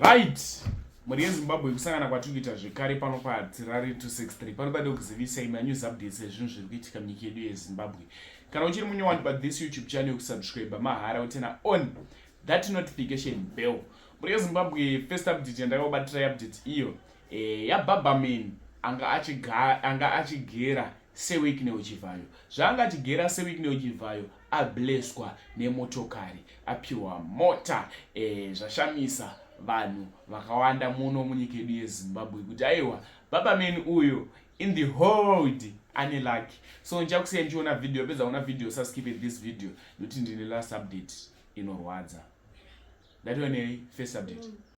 right mhuri yezimbabwe kusangana kwatiri kuita zvekare pano patirari 263 pano pade kuzivisa imwe anews updates ezvinhu zviri kuitika munyika yedu yezimbabwe kana uchiri munyowani pa this youtube channel kusubscribe mahara utena on that notification bell mhuri yezimbabwe first update yandakakubatira yeupdate iyo eh, yababaman anga achigera sewek neuchivayo zvaanga achigera sewek neuchivayo ableswa nemotokari apiwa mota e, zvashamisa vanhu vakawanda muno munyika yedu yezimbabwe kuti aiwa baba meni uyo in the hold ane lucky so ndichakusiya ndichiona video apedza kuona video saskipe this video nekuti ndine last update inorwadza ndatoonei first update mm.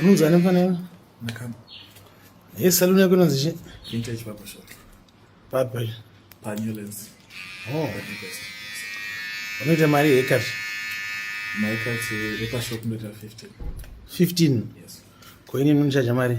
Unonzwa nefana iwe? Nakama. Ye saluni yako inonzi chi? Vintage barber shop. Barber. Pa New Lens. Oh. Unoita mari hekati? Maikati hekati shop ndoita 15. 15? Yes. Kwa ini nini mari?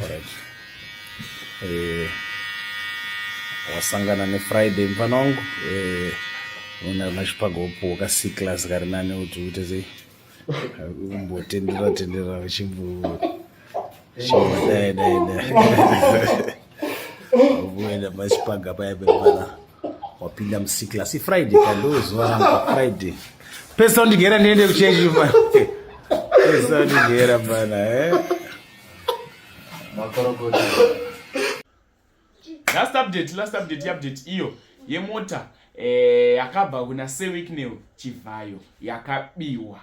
Alright. Eh, wasangana nefriday mfana wangu eh, una machipaga upuwo ka c class kari nani kuti uite sei umbotendera tendera uchimbo dai dai dai uenda machipaga paya pemfana wapinda muc class ifriday kandozuva rangu friday pesa undigera ndiende kuchechi pesa undigera mfana eh Makorokoto. Last update, last update, update iyo yemota eh, yakabva kuna Sewicknell Chivhayo yakabiwa.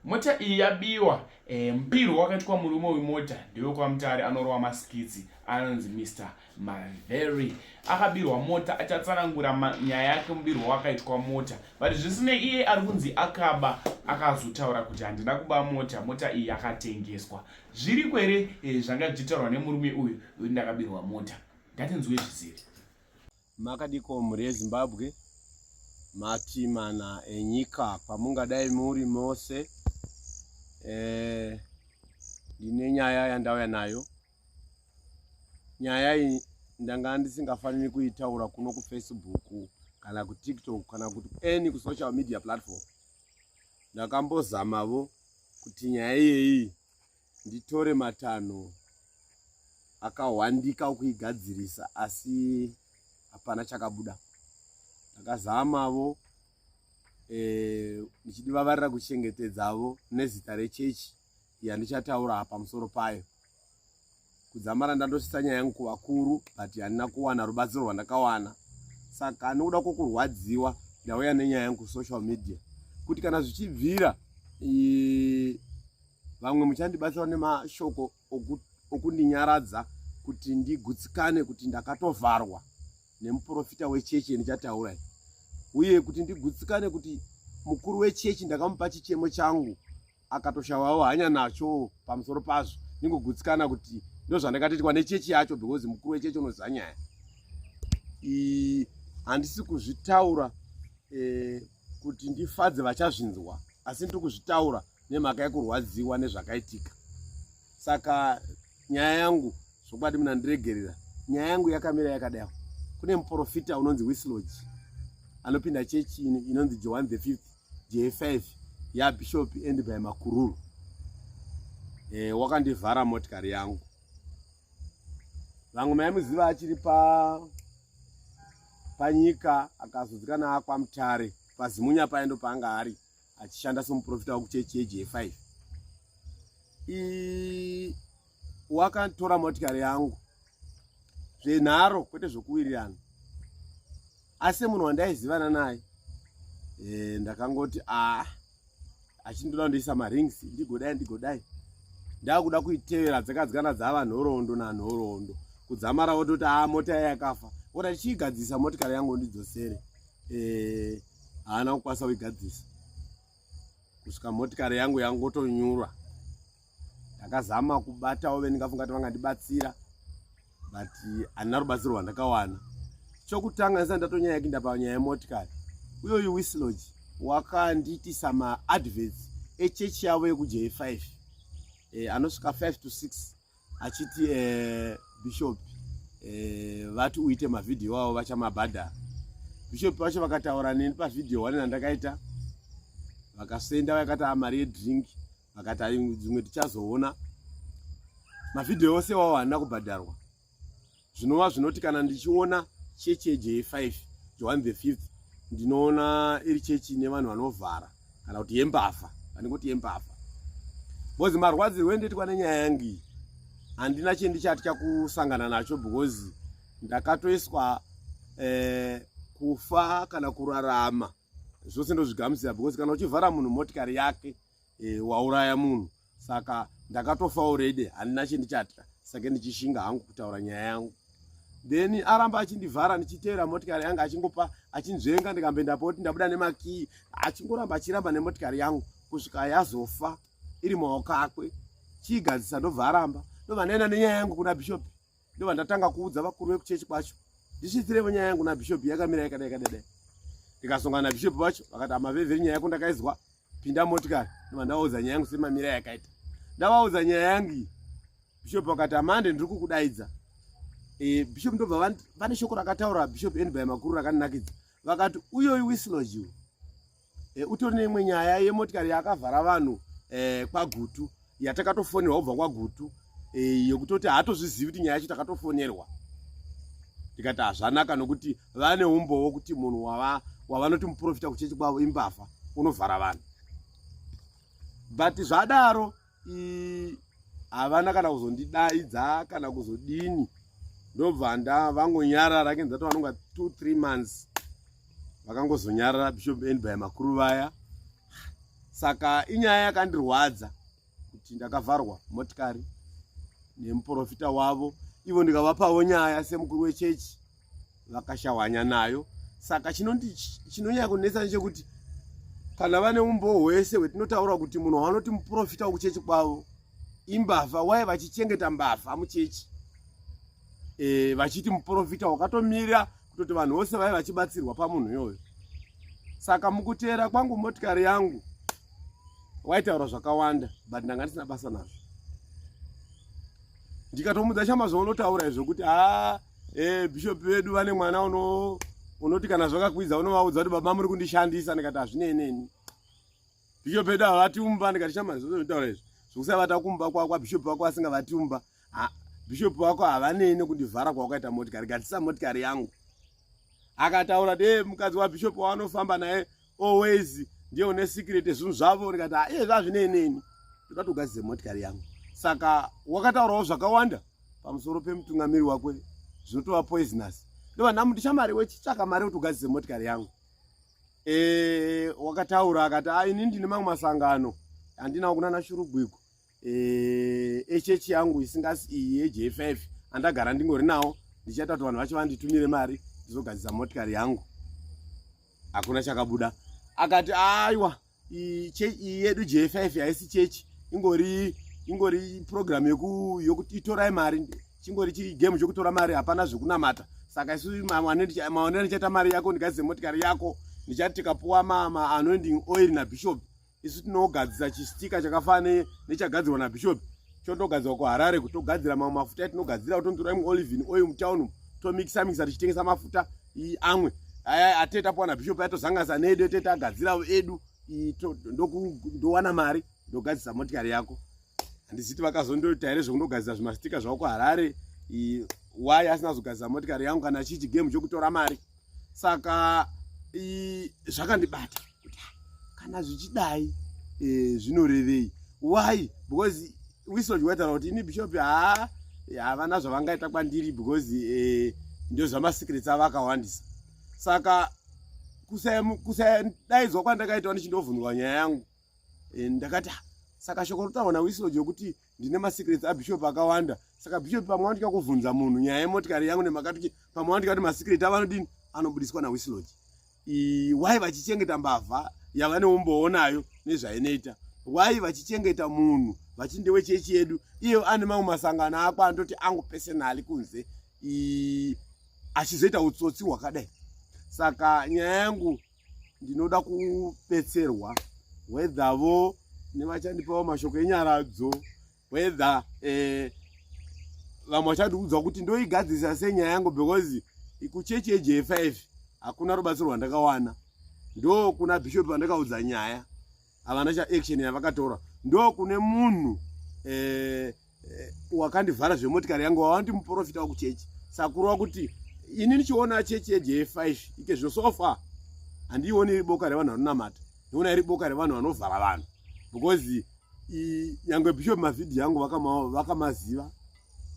Mota iyi yabiwa eh, mpiro wakaitwa murume wemota ndewe kwaMutare anorova masikidzi anonzi Mr Maveri akabirwa mota achatsanangura nyaya yake mubirwo wakaitwa mota but zvisinei iye ari kunzi akaba akazotaura kuti handina kuba mota mota iyi yakatengeswa zviri kwere eh, zvanga zvichitaurwa nemurume uyu uyu ndakabirwa mota ngatinzwe zvisiri makadiko mhuri yezimbabwe mati mana enyika kwamungadai muri mose eh, ndine e, nyaya yandauya nayo nyaya iyi ndanga ndisingafaniri kuitaura kuno kufacebook kana kutiktok kana kuti any kusocial media platform ndakambozamavo kuti nyaya iyeyi nditore matanho akahwandika kuigadzirisa asi hapana chakabuda ndakazamavo eh, ndichidivavarira kuchengetedzavo nezita rechechi e, yandichataura pamusoro payo kudzamara ndandosvitsa nyaya yangu kuvakuru but handina kuwana rubatsiro rwandakawana saka ndikuda kwokurwadziwa ndauya nenyaya yangu kusocial media kuti kana zvichibvira vamwe muchandibatsira nemashoko okundinyaradza kuti ndigutsikane kuti ndakatovharwa nemuprofita wechechi yandichataura uye kuti ndigutsikane kuti mukuru wechechi ndakamupa chichemo changu akatoshavawo hanya nacho pamusoro pazvo ningogutsikana kuti ndozvandakatoitwa nechechi yacho because mukuru wechechi unoziva nyaya handisi kuzvitaura eh, kuti ndifadze vachazvinzwa asi ndiri kuzvitaura nemhaka yekurwadziwa nezvakaitika saka nyaya yangu zvokwadi muna ndiregerera nyaya yangu yakamira yakadai kune muprofita unonzi wislodge anopinda chechi inonzi johan the fifth J5 ya Bishop and by Makururu eh, wakandivhara motikari yangu vamwe maimuziva achiri pa panyika akazodzikana akwa mutare pazimunya paye ndo paanga ari achishanda somuprofita wekuchechi yeJ5 wakatora motikari yangu zvenharo kwete zvokuwirirana asi munhu wandaizivana naye e, ndakangoti a achindoda kundiisa marings ndigodai ndigodai ndakuda kuitevera dzakadzikana dzava nhoroondo nanhoroondo kudzamara wototi a mota yaye yakafa oti achiigadzisa motikari yangu ndidzosere e, haana kukwanisa kuigadzisa kusvika motikari yangu yangotonyura ndakazama kubatawo vendingafunga kuti vangandibatsira but handina rubatsiro rwandakawana chokutanga ndisati ndatonyaya kinda panyaya yemotikari uye uyu wislodge wakandiitisa maadverts echechi yavo yekuje 5 eh, anosvika 5 to 6 achiti eh, bishop eh, vati uite mavhidhiyo avo vachamabhadhara bishop vacho vakataura neni pavhidhiyo one nandakaita vakasenda vakati amari ah, yedrink vakati ai dzimwe tichazoona mavhidhiyo ose iwawo handina kubhadharwa zvinova zvinoti kana ndichiona chechi yej5 joan the fifth ndinoona iri chechi ine vanhu vanovhara kana kuti yembavha vanenge kuti yembavha bcoz marwadzirwo endoitwa nenyaya yangu iyi handina chendichaatya kusangana nacho because ndakatoiswa eh, kufa kana kurarama zvose ndozvigamuchira because kana uchivhara munhu motikari yake e, wauraya munhu saka ndakatofa already handina chendichatya sake ndichishinga hangu kutaura nyaya yangu then aramba achindivhara ndichiteera motikari yangu achingopa achinzvenga ndikambe ndapoti ndabuda nemakii achingoramba achiramba nemotikari yangu kusvika yazofa iri maoko akwe chiigadzisa ndobva aramba ndobva ndaenda nenyaya yangu kuna bishopi ndova ndatanga kuudza vakuru vekuchechi kwacho ndichiitirevo nyaya yangu nabhishopi yakamira yakadai kadadai ndikasongana nabhishopi vacho vakati amavevheri nyaya yako ndakaizwa pinda motikari ndova ndavaudza nyaya yangu semamira yakaita ndavaudza nyaya yangu iyi bhishopi vakati amande ndiri kukudaidza e, bhishopi ndobva vane shoko rakataura bhishopi endby makuru rakandinakidza vakati uyoyi wislogiwo Eh, utori neimwe nyaya yemotikari yakavhara vanhu eh, kwagutu yatakatofonerwa kubva kwagutu eh, yekutoti haatozvizivi kuti nyaya yacho takatofonerwa tikati hazvanaka nokuti vane umbowo kuti munhu wavanoti muprofita kuchechi kwavo imbavha unovhara vanhu but zvadaro havana kana kuzondidaidza kana kuzodini ndobva nda vangonyarara kenza to vanonga two three months vakangozonyarara bishop end by makuru vaya saka inyaya yakandirwadza kuti ndakavharwa motikari nemuprofita wavo ivo ndikavapavo nyaya semukuru wechechi vakashawanya nayo saka chinonyanya kunetsa nechekuti kana vane umbowo hwese hwetinotaura kuti munhu wanoti muprofita wokuchechi kwavo imbavha waye vachichengeta mbavha muchechi e, vachiti muprofita wakatomira kutoti vanhu vose vaive vachibatsirwa pamunhu iyoyo saka mukuteera kwangu motikari yangu waitaura zvakawanda but ndanga ndisina basa nazvo ndikatomudza chama zvaunotaura izvo kuti haa eh bishop vedu vane mwana uno unoti kana zvakakwidza unovaudza kuti baba muri kundishandisa ndikati hazvinei neni bishop vedu havati umba ndikati shamari zvozvitaura izvi zvokusavata kumba kwako abishop vako vasingavati umba bishop vako havanei nekundivhara kwawakaita motikari gatisa motikari yangu akataura de mukadzi wabishop waanofamba naye always ndiye une secret zvinhu zvavo ndikati ah, iye zvazvinei neni ndikatogadzise motikari yangu saka wakataurawo zvakawanda pamusoro pemutungamiri wako zvinotova poisonous ndova ndamuti shamari wechitsvaka mari kuti ugadzise motikari yangu e, wakataura akati ah, ini ndine mamwe masangano handinawo kunana shurugwiko eh, echechi yangu isingasi iyi yejf andagara ndingori nawo ndichaita kuti vanhu vacho vanditumire mari ndizogadzisa motikari yangu hakuna chakabuda akati aiwa iyi yedu jf haisi chechi ingori ingori program yokuti itorai mari chingori chiri game chokutora mari hapana zvekunamata saka isu maonero ndichaita mari yako ndikaize motikari yako ndichati tikapuwa maanoending oil nabishop isu tinogadzisa chistika chakafana nechagadzirwa nabishop chotogadzirwa kuharare kuti togadzira mamwe mafuta etinogadzira kutonzura imwe olivin oil mutown tomikisa mikisa tichitengesa mafuta amwe aya atete apuwa nabishop ayatozanganisa needu etete agadziravo edu ndowana mari ndogadzisa motikari yako handiziti vakazondoita here zvekundogadzira zvimastika zvavo kuharare why asina zogadzira motikari yangu kana chichi game chokutora mari saka zvakandibata kuti kana zvichidai e, zvinorevei why because wisoji waitaura kuti ini bishop haa havana zvavangaita kwandiri because e, ndio zvamasecrets avo akawandisa saka kusadaidzwa kwandakaitwa ndichindovhunurwa nyaya yangu eh, ndakati ah, saka shoko rotaurwa nawisilo jokuti ndine masecrets abishop akawanda saka bishop pamwe wandika kuvhunza munhu nyaya yemotikari yangu nemakatiki pamwe wandika kuti masecret avanodini anobudiswa nawisiloj why vachichengeta mbavha yavane umboonayo nezvainoita why vachichengeta munhu vachiti ndewe chechi yedu iye ane mamwe masangano ako anototi angu pesenali kunze achizoita utsotsi hwakadai saka nyaya yangu ndinoda kubetserwa whether vo nevachandipawo mashoko enyaradzo whether eh, vamwe vachandiudzwa kuti ndoigadzirisa sei nyaya yangu because kuchechi yeje 5 hakuna rubatsiro rwandakawana ndo kuna bishop vandakaudza nyaya havana chaaction yavakatora ndo kune munhu eh, Eh, wakandivhara zvemotikari yangu wawandi muprofita wakuchechi sakuru wakuti ini ndichiona chechi yejefive ike zvino so far handiioni iri boka revanhu vanonamata ndiona iri boka revanhu vanovhara vanhu because nyangwe bishop mavhidhiyo angu vakamaziva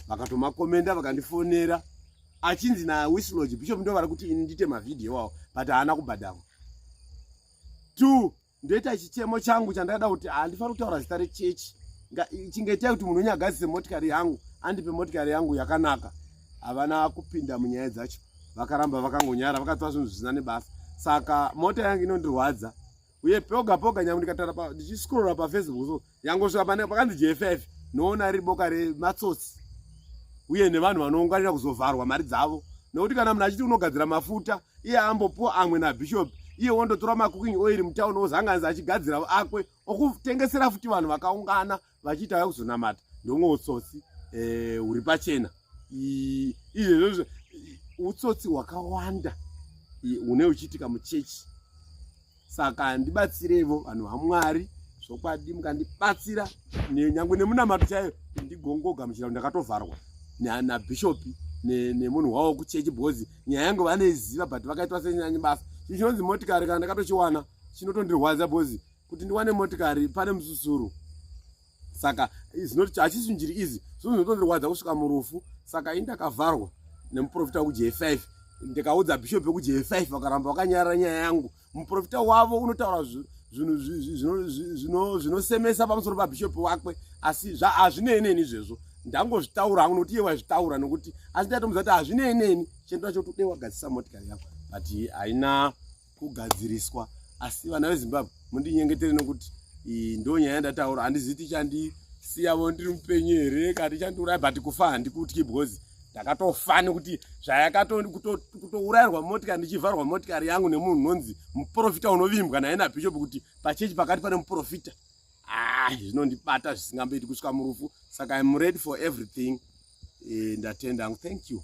vakatomakomenda vakandifonera achinzi nawisloge bishop ndo vari kuti ini ndite mavhidhiyo iwawo but haana kubhadharwa two ndoita chichemo changu chandada kuti handifaniri kutaura zita rechechi chingaitai kuti munhu wenyu agadzise motikari yangu andipe motikari yangu yakanaka havana kupinda munyaya dzacho vakaramba vakangonyara vakatora zvinhu zvisina nebasa saka mota yangu inondirwadza uye poga poga nyange ndikatara ndichiscrolla pafacebook so yangosvika pane pakanzi jff noona riri boka rematsotsi uye nevanhu vanounganira kuzovharwa mari dzavo nokuti kana munhu achiti unogadzira mafuta iye ambopuwa amwe nabishop iye wondotora macooking oil mutauni ozanganisa achigadzira akwe okutengesera futi vanhu vakaungana vachiita vaya kuzonamata ndomwe utsotsi eh, huri pachena izvezvo utsotsi hwakawanda une uchiitika muchechi saka ndibatsireivo vanhu vamwari zvokwadi mukandibatsira nyange nemunamato chaiyo ndigongoga muchirau ndakatovharwa nabhishopi nemunhu wavo kuchechi because nyaya yangu vaneiziva but vakaitwa senyanyi basa chii chinonzi motikari kana ndakatochiwana chinotondirwadza because kuti ndiwane motikari pane mususuru saka zinoti hachisi njiri izi zvinozondirwadza kusvika murufu saka ini ndakavharwa nemuprofita wekuj 5 ndikaudza bishop wekuj 5 vakaramba vakanyarara nyaya yangu muprofita wavo unotaura zvinosemesa pamusoro pabishop wakwe asi hazvinei neni izvezvo ndangozvitaura hangu nokuti iye waizvitaura nokuti asi ndatomudza kuti hazvinei neni chendo chacho tode wagadzisa motikari yako but haina kugadziriswa asi vana vezimbabwe mundinyengetere nokuti ndo nyaya yandataura handizivi tichandisiyavo ndiri mupenyu here kana tichandiuraya but kufa handikutyi because ndakatofa nekuti zvayakatourairwa motikari ndichivharwa motikari yangu nemunhu unonzi muprofita unovimbwa naye nabhishopu kuti pachechi pakati pane muprofita ah, zvinondibata zvisingamboiti kusvika murufu saka im ready for everything eh, ndatenda hangu thank you